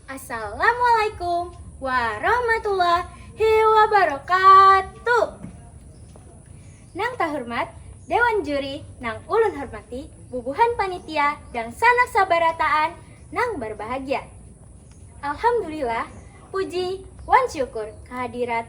Assalamualaikum warahmatullahi wabarakatuh. Nang tahormat Dewan Juri nang ulun hormati, bubuhan panitia dangsanak sabarataan nang barbahagia. Alhamdulillah, puji wan syukur kahadirat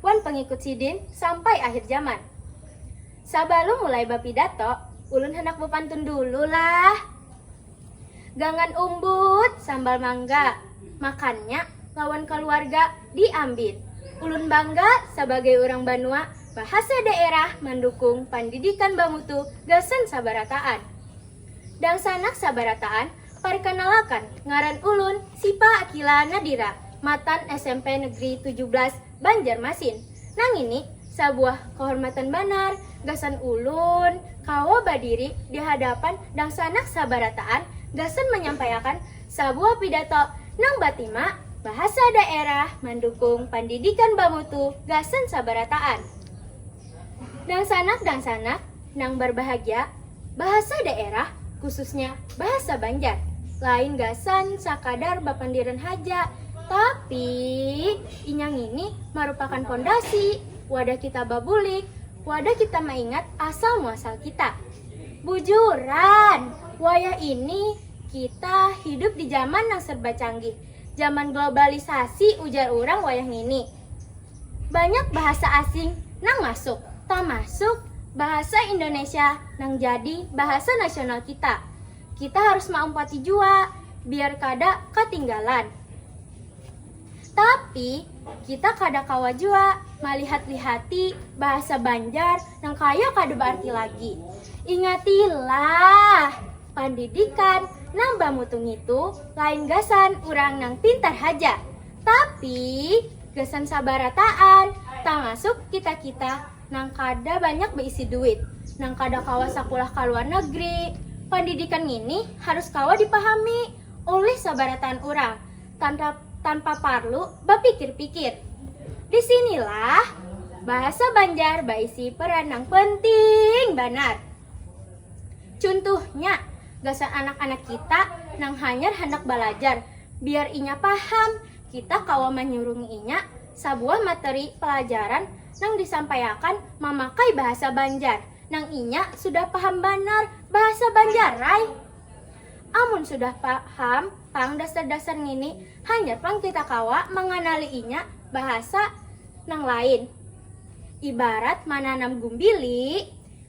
wan pangikut Sidin sampai akhir zaman. Sabalum mulai bapidato, ulun handak bapantun dulu lah. Gangan umbut sambal mangga, makannya lawan kaluarga di Ambin. Ulun bangga sabagai urang banua bahasa daerah mandukung pandidikan bamutu gasan sabarataan. Dangsanak sabarataan Parkanalakan, ngaran ulun Sipa Akila Nadira, matan smp Negeri tujuh belas Banjarmasin. Nangini sabuah kahormatan banar gasan ulun kawa badiri di hadapan dangsanak sabarataan gasan manyampaiakan sabuah pidato nang batima Bahasa Daerah Mandukung Pandidikan Bamutu gasan Sabarataan. Dangsanak-dangsanak. nang barbahagia, bahasa daerah, khususnya bahasa Banjar, lain gasan sakadar bapandiran haja, tapi inya ngini marupakan pondasi wadah kita babulik, wadah kita maingat asal muasal kita. Bujuran, wayah ini kita hidup di zaman nang serba canggih, zaman globalisasi ujar urang wayah ngini. Banyak bahasa asing nang masuk, tamasuk bahasa Indonesia nang jadi bahasa nasional kita. Kita harus maumpati jua biar kada katinggalan. Tapi, kita kada kawa jua malihat-lihati bahasa Banjar nang kaya kada baarti lagi. Ingatilah, pandidikan nang bamutu ngitu lain gasan urang nang pintar haja. Tapi gasan sabarataan, tamasuk kita-kita nang kada banyak baisi duit, nang kada kawa sakulah ka luar negeri, pandidikan ngini harus kawa dipahami ulih sabarataan urang tanpa tanpa parlu bapikir-pikir. Di sinilah bahasa Banjar baisi peran nang penting banar. Cuntuhnya, gasan anak-anak kita nang hanyar handak balajar, biar inya paham, kita kawa manyurungi inya sabuah materi palajaran nang disampaiakan mamakai bahasa Banjar nang inya sudah paham banar bahasa Banjarai. Amun sudah paham pang dasar-dasar ngini, hanyar pang kita kawa manganali inya bahasa nang lain. Ibarat mananam gumbili,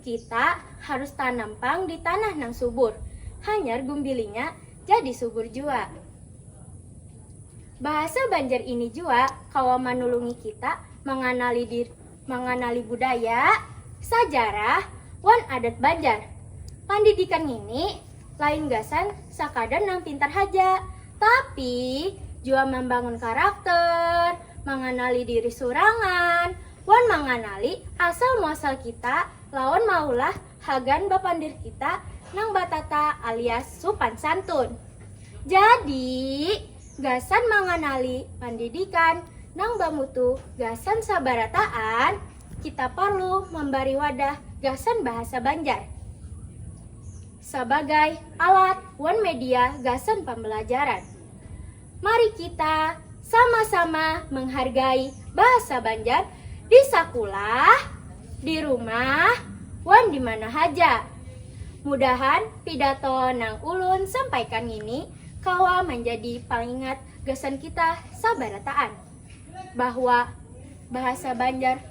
Kita harus tanam pang di tanah nang subur, hanyar gumbilinya jadi subur jua. Bahasa Banjar ini jua kawa manulungi kita manganali dir manganali budaya, sajarah, wan adat Banjar. Pandidikan ngini lain gasan sakadar nang pintar haja, tapi jua mambangun karakter, manganali diri surangan, wan manganali asal muasal kita lawan maulah hagan bapandir kita nang batata alias supan santun. Jadi, gasan manganali pandidikan nang bamutu gasan sabarataan, kita parlu mambari wadah gasan bahasa Banjar sabagai alat wan media gasan pambalajaran. Mari kita sama-sama menghargai bahasa Banjar di sakulah, di rumah, wan di mana haja. Mudahan pidato nang ulun sampaikan ngini kawa manjadi pangingat gasan kita sabarataan bahwa bahasa Banjar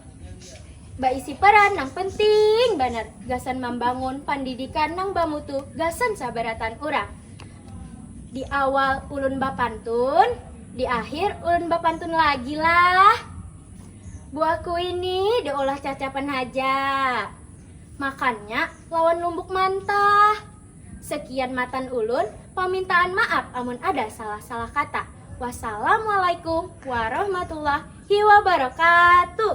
baisi peran nang penting banar gasan mambangun pandidikan nang bamutu gasan sabarataan urang. Di awal ulun bapantun, di akhir ulun bapantun lagi lah. Buah kui ni diolah cacapan haja. Makannya lawan lumbuk mantah. Sekian matan ulun, pamintaan maaf amun ada salah-salah kata. Wassalamualaikum warahmatullahi wabarakatuh.